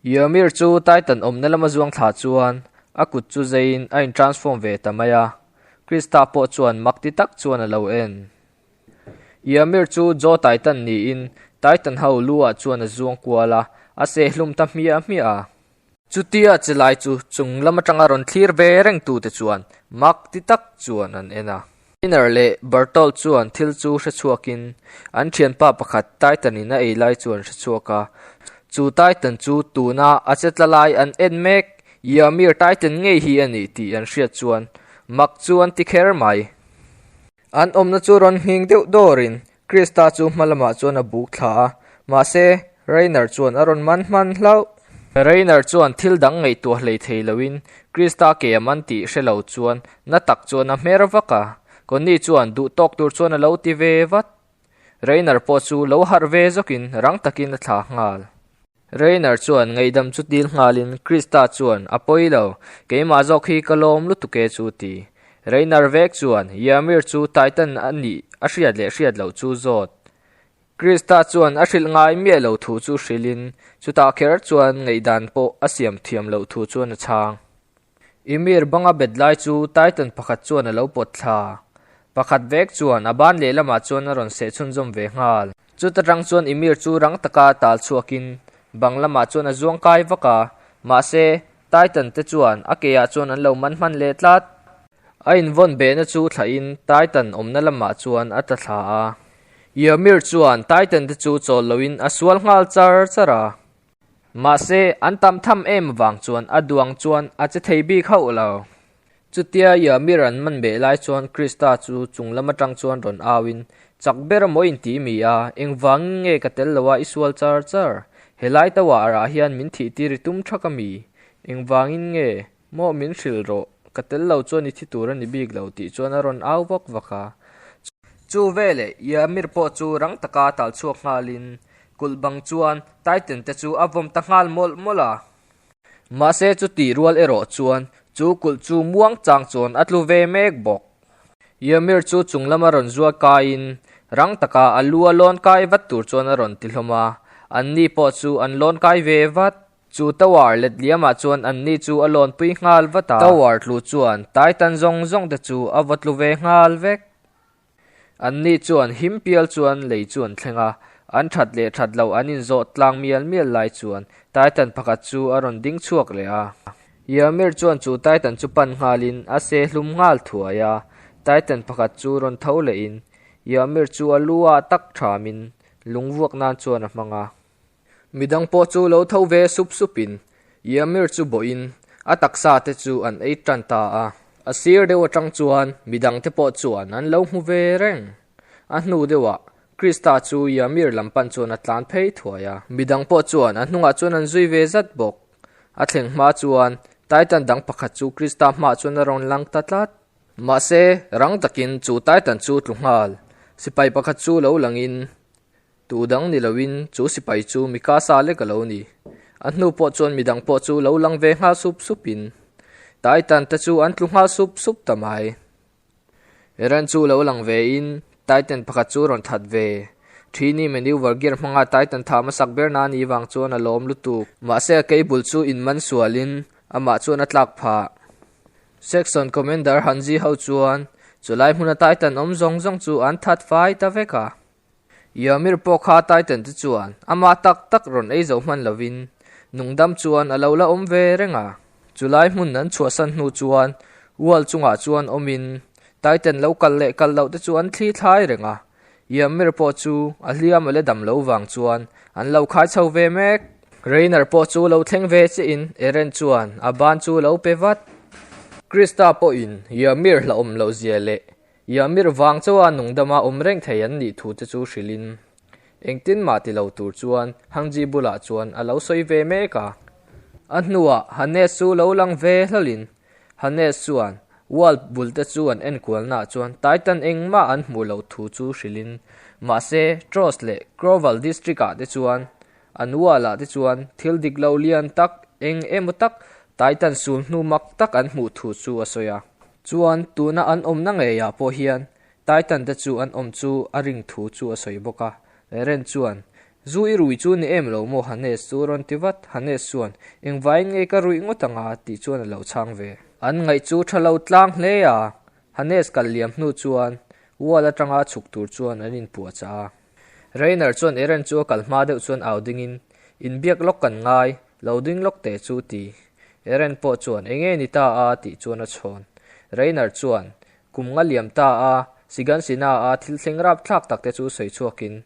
Yrmir chu Titan awmna lama zuang thla chuan a kut chu zeiin a intransform ve ta mai a, Krista pawh chuan makti tak chuan a lo en. Yrmir chu Jaw Titan niin Titan ho luah chuan a zuang kual a, a seh hlum ta hmiah hmiah a. Chutia chelai chu chunglam atanga rawn thlir ve rengtute chuan makti tak chuan an en a. Skinner leh Bartol chuan thil chu hrechhuakin an thianpa pakhat Titan-in a ei lai chu an hrechhuak a. Chu Titan chu tuna a che tla lai an en mek, Ymir Titan ngei hi a ni tih an hriat chuan mak chu an ti kher mai. An awmna chu rawn nghing deuh dawrin Krista chu hma lamah chuan a buk thla a, mahse, Rainer chuan a rawn man hman hlauh. Rainer chuan thil dang ngaihtuah hlei thei loin, Krista ke a man tih hre lo chuan na tak chuan a hmer vak a. Connie chuan duh tawk tur chuan a lo ti ve vat. Rainer pawh chu lo harh ve zawkin rang takin a thlah nghal. Rainer chuan ngeihdam chu tîl nghalin, Krista chuan a pawi lo, keimah zawk hi ka lawm lutuk e chu ti. Rainer vek chuan, Yrmir chu Titan a nih a hriat leh hriat loh chu zawt. Krista chuan a hrilh ngai miah lo thu chu hrilhin, chutah kher chuan ngaihdan pawh a siam thiam loh thu chuan a chhang. Ymir banga bet lai chu Titan pakhat chuan a lo pawt thla. Pakhat vek chuan a ban lehlamah chuan a rawn sehchhunzawm ve nghal. Chuta tang chuan Emir chu rang taka tal chhuakin bang lamah chuan a zuang kai vak a, mahse, Titan te chuan a ke ah chuan an lo man hman leh tlat. A invawn behna chu thlahin Titan awmna lamah chuan a ta thla a, Ymir chuan Titan te chu chawl loin a sual nghal char char a. Mahse, an tam tham em avang chuan a duang chuan a che thei bik hauh lo. Chutia ia mi ra'n man beh lai chuan Krista chu chung lam atang chuan rawn au in, Chak ber emaw in ti mi a, engvangin nge ka tel lo a i sual char char? He lai tauah arah hian min thih tir i tum tha ka mi, engvangin nge? Maw min hrilh rawh, ka tel lo chuan i thi tur a ni bik lo tih chuan a rawn au vak vak a. Chu veleh Yamir pawh chu rang taka tal chhuak nghalin kulh bang chuan Titan te chu a vawm ta nghal mawlh mawlh a. Mahse chu tih rual erawh chuan chu kulh chu muang chang chuan a tlu ve mek bawk. Yamir chu chung lam a rawn zuar kaiin rang taka a lu a lawn kai vat tur chuan a rawn ti hlawm a, anni pawh chu an lawn kai ve vat. Chu tower letliamah chuan an ni chu a lawnpui nghal vat a, tower tlu chuan tai tan zawng zawng te chu a va tlu ve nghal vek. An ni chuan him pial chuan lei chu an thleng a, an that leh that lo an inzawt tlang mial mial lai chuan tai tan pakhat chu a rawn ding chhuak leh a. Yamir chuan chu tai tan chu pan nghalin a se hlum nghal thuai a, tai tan pakhat chu rawn tho lehin Yamir chu a lu a tak thamin lungvuak nan chuan a hmang a. Midang pawh chu lo tho ve sup sup in, Iamir chu bawhin a taksa te chu an ei tan ta a. A sir deuh atang chuan midang te pawh chuan an lo hmu ve reng. A hnu deuhah Krista chu Iamir lam pan chuan a tlan phei thuai a, midang pawh chuan a hnungah chuan an zui ve zat bawk. A thleng hma chuan Titan dang pakhat chu Krista hmaah chuan a rawn lang ta tlat. Mahse, rang takin chu Titan chu tlu nghal sipai pakhat chu lo langin Tuh dang ni lo in chu sipai chu mi ka sa lek a lo ni. A hnu pawh chuan mi dang pawh chu lo lang ve nghal sup sup in. Tai tan te chu an tlu nghal sup sup ta mai. Eren chu lo lang ve in tai ten pakhat chu rawn that ve. Thi ni maneuver gear hmanga tai tan tha ma sak ber na ni vang chuan a lawm lutuk. Mahse a kei bul chu in man sual in amah chuan a tlak phah. Section Commander Han Zi ho chuan chu lai hmuna tai tan awm zawng zawng chu an that fai ta vek a. Yamir pawh kha Titan te chuan ama tak tak rawn ei zo hman lovin nungdam chuan a lo la awm ve reng a. Chulai hmun an chhuahsan hnu chuan wall chungah chuan awmin Titan lo kal leh kal loh te chu an thli thlai reng a. Yamir pawh chu a hliam a la dam lo vang chuan an lo khai chho ve mek. Reiner pawh chu lo thleng ve che in Eren chuan a ban chu lo pe vat. Krista pawhin Yamir hlauhawm lohzia leh Ia mir vang chuan nungdama awm reng thei an nih thu te chu hrilhin, engtin mah ti lo tur chuan Hang Ji bulah chuan a lo sawi ve mek a. A hnuah Hanes chu lo lang ve hlalin, Hanes chuan wall bul te chu an enkualnaah chuan Titan engmah an hmuh loh thu chu hrilhin, mahse Trost leh Crowell District-ah te chuan an wall-ah te chuan thil dik lo lian tak, eng emaw tak, Titan sul hnu mak tak an hmuh thu chu a sawi a. Chuan tuna an awmna ngeiah pawh hian Titan te chu an awm chu a ring thu chu a sawi bawk a. Ren chuan, Zu i rui chu ni em lo maw Hanes chu rawn ti vat. Hanes chuan, Engvaiin nge ka rui ngawt ang a? tih chuan a lo chhang ve. An ngaih chu tha lo tlang hle a, Hanes kal liam hnu chuan wall atanga chhuk tur chuan an inpuahchah a. Rainer chuan Eren chu a kal hma deuh chuan au dingin, In biak lawk kan ngai, lo ding lawk teh chu ti. Eren pawh chuan Enge ni ta a tih chuan a chhawn. Rainer chuan, Kum nga liam ta a, Sigan Sina a thil thleng rap thlak tak te chu sawi chhuakin,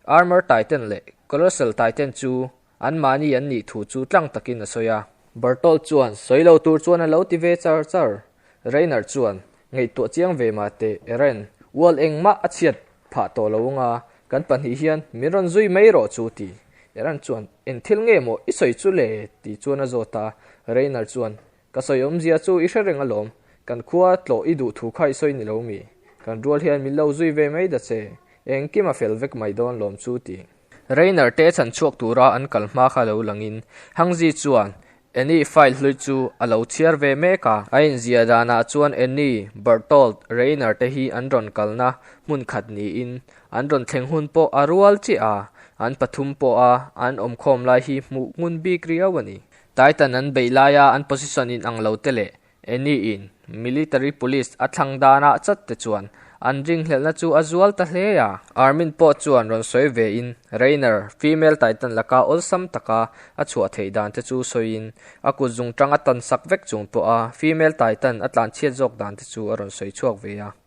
Armor Titan leh Colossal Titan chu An mahni an nih thu chu tlang takin a sawi a. Bertolt chuan, Sawi lo tur chuan a lo ti ve char char. Rainer chuan, Ngaihtuah chiang ve mah teh, Eren. Ual engmah a chhiat phah tawh lo anga, kan pahnih hian min rawn zui mai rawh chu ti. Eren chuan, Eng thil nge maw i sawi chu le? ti chuan a zawt a. Rainer chuan, Ka sawi awmzia chu i hre reng alawm, kan khua tlawh i duh thu kha i sawi nilo mi? Kan rual hian min lo zui ve mai da che, engkim a fel vek mai dawn lawm chu ti. Rainer te chhan chhuak tura an kal hma kha lo langin Hangzi chuan Annie file hlui chu a lo chhiar ve mek a. A inzia danah chuan Annie, Bertolt, Rainer te hi an rawn kalna hmun khat niin an rawn thleng hun pawh a rual chiah a, an pathum pawha an awm khawm lai hi hmuh ngun bik riau a ni. Titan an beih laia an position in ang lo te leh any in military police a thlang dan a chat te chuan an ringhlelhna chu a zual ta hle a. Army-n pawh chuan rawn sawi ve in Raynor female Titan laka awlsam taka a chhuah theih dan te chu sawi in a kut zung tang a tansak vek chung pawha female Titan a tlanchhiat zawk dan te chu a rawn sawi chhuak ve a.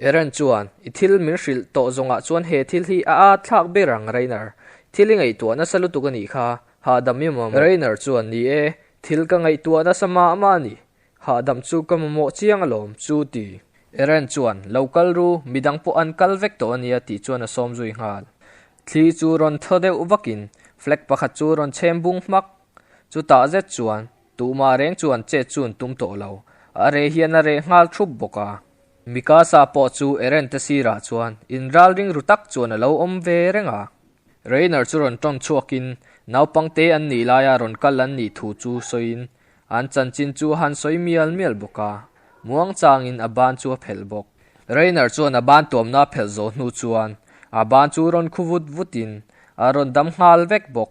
Aaron chuan, I thil min hrilh tawh zawngah chuan he thil hi a at thlak ber ang, Reiner. Thil i ngaihtuah nasa lutuk a nih kha, hahdam i mamawh. Reiner chuan, Ni e, thil ka ngaihtuah nasa mah mah a ni. Hahdam chu ka mamawh chiang alawm, chu ti. Aaron chuan, Lo kal ru, midang pawh an kal vek tawh a nia, tih chuan a sawm zui nghal. Thli chu rawn tho deuh vakin flag pakhat chu rawn chhem bung hmak. Chutah zet chuan. Tuma reng chuan chet chu an tum tawh lo. A reh hian a reh nghal thup bawk a. Mikasa pawh chu Eren te sirah chuan inral ringru tak chuan a lo awm ve reng a. Reiner chu rawn ton chhuakin naupang te an nih laia rawn kal an nih thu chu sawiin an chanchin chu a han sawi mial mial bawk a. Muangchangin a ban chu a phelh bawk. Reiner chuan a ban tuamna a phelh zo hnu chuan a ban chu rawn khu vut vutin a rawn dam nghal vek bawk.